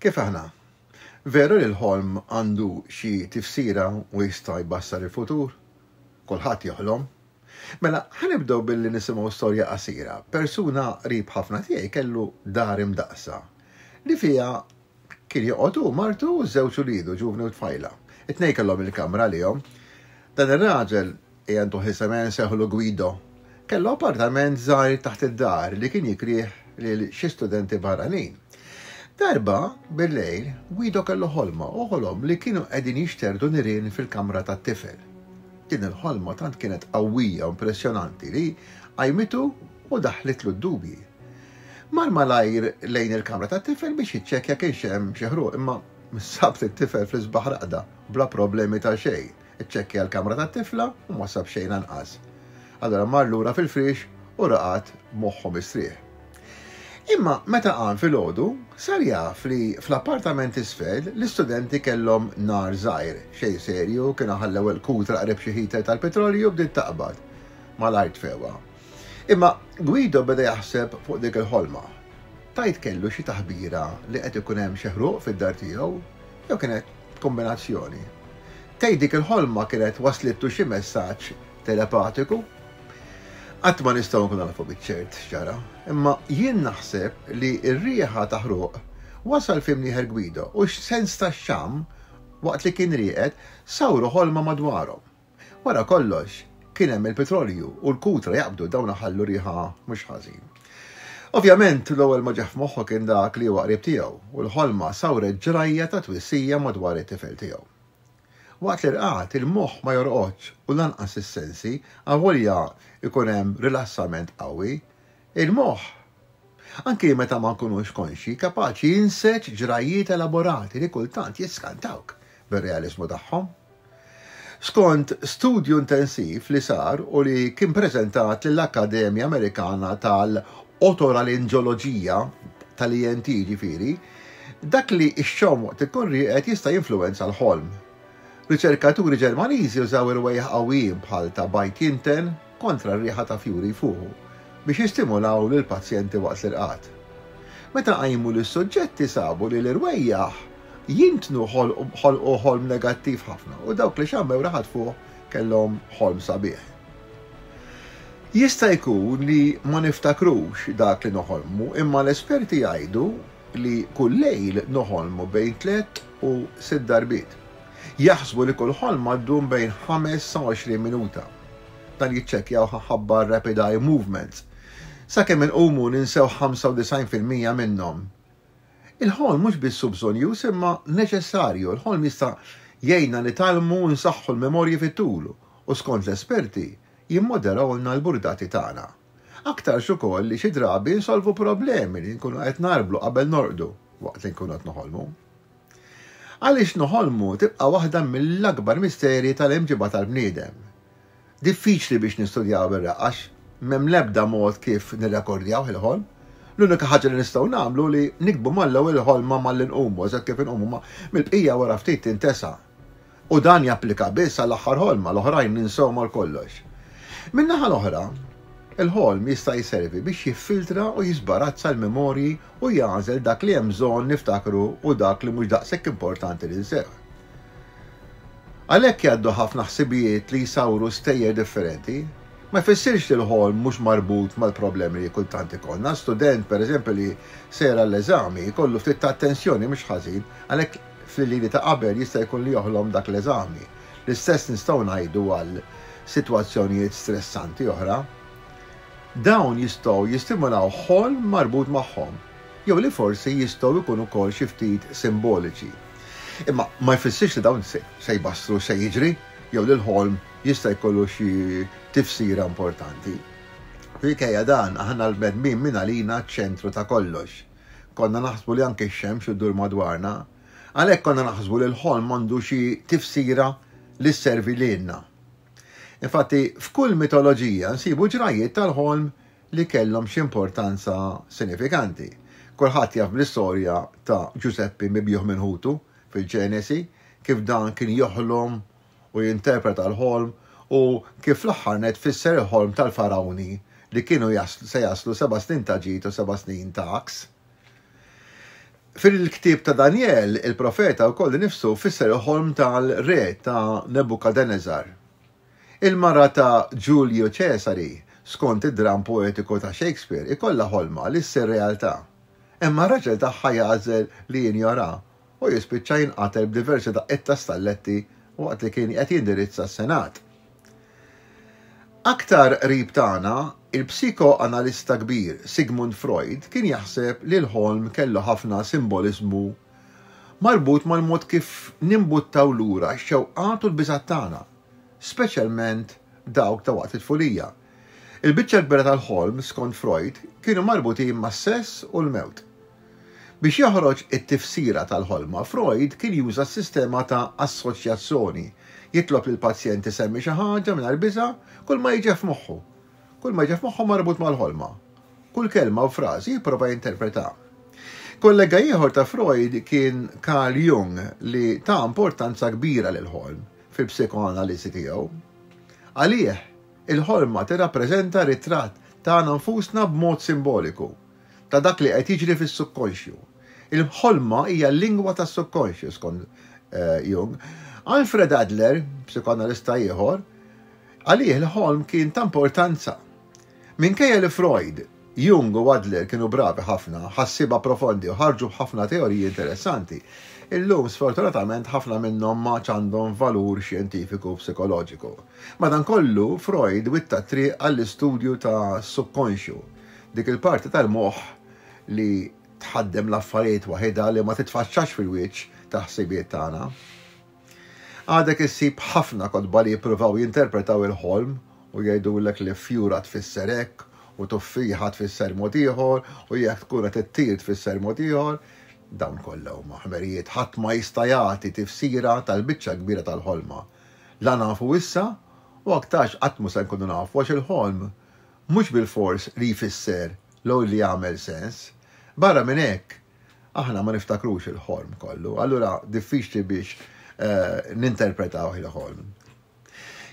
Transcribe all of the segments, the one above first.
Kif aħna? Veru li l-ħolm għandu xi tifsira u jista' jbassar il-futur? Kulħadd joħlom. Mela, ħa nibdew billi nisimgħu storja qasira. Persuna qrib ħafna tiegħi kellu dar imdaqqsa, li fiha kien joqgħod hu, martu u żewġ uliedu ġuvni u tfajla. It-tnejn kellhom il-kamra għalihom. Dan ir-raġel Ejja ntuh isem ejja nsejħulu Guido. Kellu appartament żgħir taħt id-dar li kien jikrih lil xi studenti barranin. Darba, bil-lejl, Guido kellu ħolma u ħolom li kienu qegħdin jixterdu nirien fil-kamra tat-tifel. Din il-ħolma tant kienet qawwija u impressjonanti li qajmitu u daħħlitlu d-dubji. Mar malajr lejn il-kamra tat-tifel biex jiċċekkja kienx hemm xi ħruq imma sabt it-tifel fl-isbaħ raqda bla problemi ta' xejn. Iċċekkja l-kamra tat-tifla u ma sab xejn anqas. Allura mar lura fil-friex u raqad b'moħħu mistrieħ. Imma meta qam filgħodu, sar jaf li fl-appartament t'isfel l-istudenti kellhom nar żgħir, xejn serju, kienu ħallew il-kutra qrib xi heater tal-petrolju u bdiet taqbad. Malajr tfewha. Imma Guido beda jaħseb fuq dik il-ħolma. Tgħid kellu xi taħbira li qed ikun hemm xi ħruq fid-dar tiegħu jew kienet kombinazzjoni. Tgħid dik il-ħolma kienet waslitlu xi messaġġ telepatiku? Qatt ma nistgħu nkunu nafu biċ-ċert x'ġara, imma jien naħseb li r-riħa ta' ħruq wasal f'imnieħer Guido u x-sens tax-xamm waqt li kien rieqed sawru ħolma madwarhom. Wara kollox, kien hemm il-pitrolju u l-kutra jaqbdu dawn iħallu riħa mhux ħażin. Ovvjament, l-ewwel ma ġah f'moħħu kien dak li huwa qrib tiegħu u l-ħolma sawret ġrajja ta' twissija madwar it-tifel tiegħu. Waqt l-irqad, il-moħħ ma jorqodx u lanqas is-sensi, avolja jkun hemm rilassament qawwi, Il-moħħ, anki meta ma nkunux konxji, kapaċi jinseġ ġrajjiet elaborati li kultant jiskantawk bir-realiżmu tagħhom. Skont studju intensiv li sar u li kien preżentat lill-Akkademja Amerikana tal-Otoralinġoloġija, tal-ENT jiġifieri, dak li xxomm waqt ikun rieqed jista' jinfluwenza l-ħolm. Riċerkaturi Ġermaniżi użaw irwejjaħ qawwijin bħal ta' Bajt Jinten, kontra r-riħa ta' fjuri jfuħu biex jistimulaw lill-pazjenti waqt l-irqad. Meta qajmu lis-suġġetti sabu li l-irwejjaħ jintnu ħolqu ħolm negattiv ħafna u dawk li xammew riħa tfuħ kellhom ħolm sabiħ. Jista' jkun li ma niftakrux dak li noħolmu imma l-esperti jgħidu li kull lejl noħolmu bejn tliet u sitt darbiet. Jaħsbu li kull ħolma ddum bejn ħames sa għoxrin minuta. Dan jiċċekkjawh ħabba r-rapid eye movements. Sakemm inqumu ninsew ħamsa u disgħin fil-mija minnhom. Il-ħolm mhux biss hu bżonjuż imma neċessarju. Il-ħolm jista' jgħinna nitgħallmu u nsaħħu l-memorji fit-tul u skont l-esperti jimmoderahulna l-burdati tagħna. Aktarx ukoll li xi drabi nsolvu problemi li nkunu qed ngħarblu qabel norqdu waqt li nkunu qed noħolmu. Għaliex noħolmu tibqa' waħda mill-akbar misterji tal-imġiba tal-bniedem. Diffiċli biex nistudjawha bir-reqqa x' m'hemm l-ebda mod kif nirrekordjawh il-ħolm. L-unika ħaġa li nistgħu nagħmlu hu li niktbu mal-ewwel il-ħolma malli nqumu eżatt kif inqumu ma mill-bqija wara ftit tintesa. U dan japplika biss għall-aħħar ħolma, l-oħrajn ninsewhom għal kollox. Min-naħa l-oħra, il-ħolm jista' jservi biex jiffiltra u jiżbarazza l-memorji u jagħżel dak li hemm bżonn niftakru u dak li mhux daqshekk importanti li nseħħ. Għalhekk jgħaddu ħafna ħsibijiet li jsawru stejjer differenti. Ma jfissirx li l-ħolm mhux marbut mal-problemi li kultant ikollna. Student, pereżempju, li sejjer għall-eżami jkollu ftit ta' attenzjoni mhux ħażin, għalhekk Fl-Iliri ta' qabel jista' jkun li joħlom dak l-eżami. L-istess nistgħu ngħidu għal sitwazzjonijiet stressanti oħra. Dawn jistgħu jistimulaw ħolm marbut magħhom, jew li forsi jistgħu jkunu wkoll xi ftit simboliċi. Imma ma jfissirx li dawn se jbassru x'se jiġri jew li l-ħolm jista' jkollu xi tifsira importanti. Minkejja dan, aħna l-bnedmin mingħalina ċ-ċentru ta' kollox. Konna naħsbu li anke x-xemx iddur madwarna. Għalhekk konna naħsbu li l-ħolm għandu xi tifsira li sservi lilna. Infatti, f'kull mitoloġija nsibu ġrajjiet tal-ħolm li kellhom xi importanza sinifikanti. Kulħadd jaf bl-istorja ta' Ġużeppi mibjugħ minn ħutu fil-Ġenesi, kif dan kien joħlom u jinterpreta l-ħolm u kif fl-aħħar nett fisser il-ħolm tal-Farawni li kienu se jaslu seba' snin ta' ġid u seba' snin ta' għaks. Fil-ktieb ta' Danjel, il-profeta wkoll innifsu fisser il-ħolm tal-re ta' Nebukadeneżar. Il-mara ta' Ġulju Ċesari, skont id-dramm poetiku ta' Shakespeare, ikollha ħolma li ssir realtà. Imma r-raġel tagħha jagħżel li jinjoraha u jispiċċa jinqatel b'diversi daqqiet ta' stalletti waqt li kien qed jindirizza s-Senat. Aktar qrib tagħna, il-psikoanalista kbir Sigmund Freud kien jaħseb li l-ħolm kellu ħafna simboliżmu marbut mal-mod kif nimbuttaw lura x-xewqat u l-biżgħat tagħna, speċjalment dawk ta' waqt it-tfulija. Il-biċċa l-kbira tal-ħolm, skont Freud, kienu marbutin mas-sess u l-mewt. Biex joħroġ it-tifsira tal-ħolma, Freud kien juża s-sistema ta' assoċjazzoni, jitlob lill-pazjent isemmi xi ħaġa mingħajr biża' kull ma jiġih f'moħħu. Kull ma jiġih f'moħħu marbut mal-ħolma. Kull kelma u frażi jipprova jinterpreta. Kollega ieħor ta' Freud kien Carl Jung li ta importanza kbira lill-ħolm fil-psikoanaliżi tiegħu. Għalih, il-ħolma tirrappreżenta ritratt tagħna nfusna b'mod simboliku. ta' dak li qed jiġri fis-subkonxju. Il-ħolma hija l-lingwa tas-subkonxju, skont Jung. Alfred Adler, psikoanalista ieħor, għalih il-ħolm kien ta' importanza. Minkejja li Freud, Jung u Adler kienu bravi ħafna, ħassieba profondi u ħarġu b'ħafna teoriji interessanti, illum sfortunatament ħafna minnhom m'għadx għandhom valur xjentifiku u psikoloġiku. Madankollu, Freud witta t-triq għall-istudju tas-subkonxju, Dik il-parti tal-moħħ li tħaddem l-affarijiet waħidha li ma titfaċċax fil-wiċċ tal-ħsibiet tagħna. Għadek issib ħafna kotba li jippruvaw jinterpretaw il-ħolm u jgħidulek li fjura tfisser hekk u tuffieħa tfisser mod ieħor u jekk tkun qed ittir tfisser mod ieħor. Dawn kollha huma ħmerijiet ħadd ma jista' jagħti tifsira tal-biċċa l-kbira tal-ħolma. La nafu issa u aktarx qatt mhu se nkunu nafu għax il-ħolm mhux bilfors li jfisser l li jagħmel sens. Barra minn hekk, aħna ma niftakrux il-ħolm kollu, allura diffiċli biex ninterpretawh il-ħolm.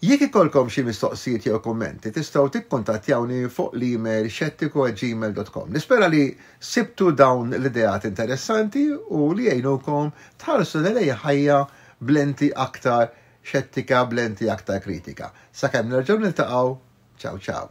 Jekk ikollkom xi mistoqsijiet jew kummenti, tistgħu tikkuntattjawni fuq l-email xettiku@gmail.com. Nispera li sibtu dawn l-ideat interessanti u li jgħinukom tħarsu lejn ħajja b'lenti aktar xettika b'lenti aktar kritika. Sakemm nerġgħu niltaqgħu, ciao ciao.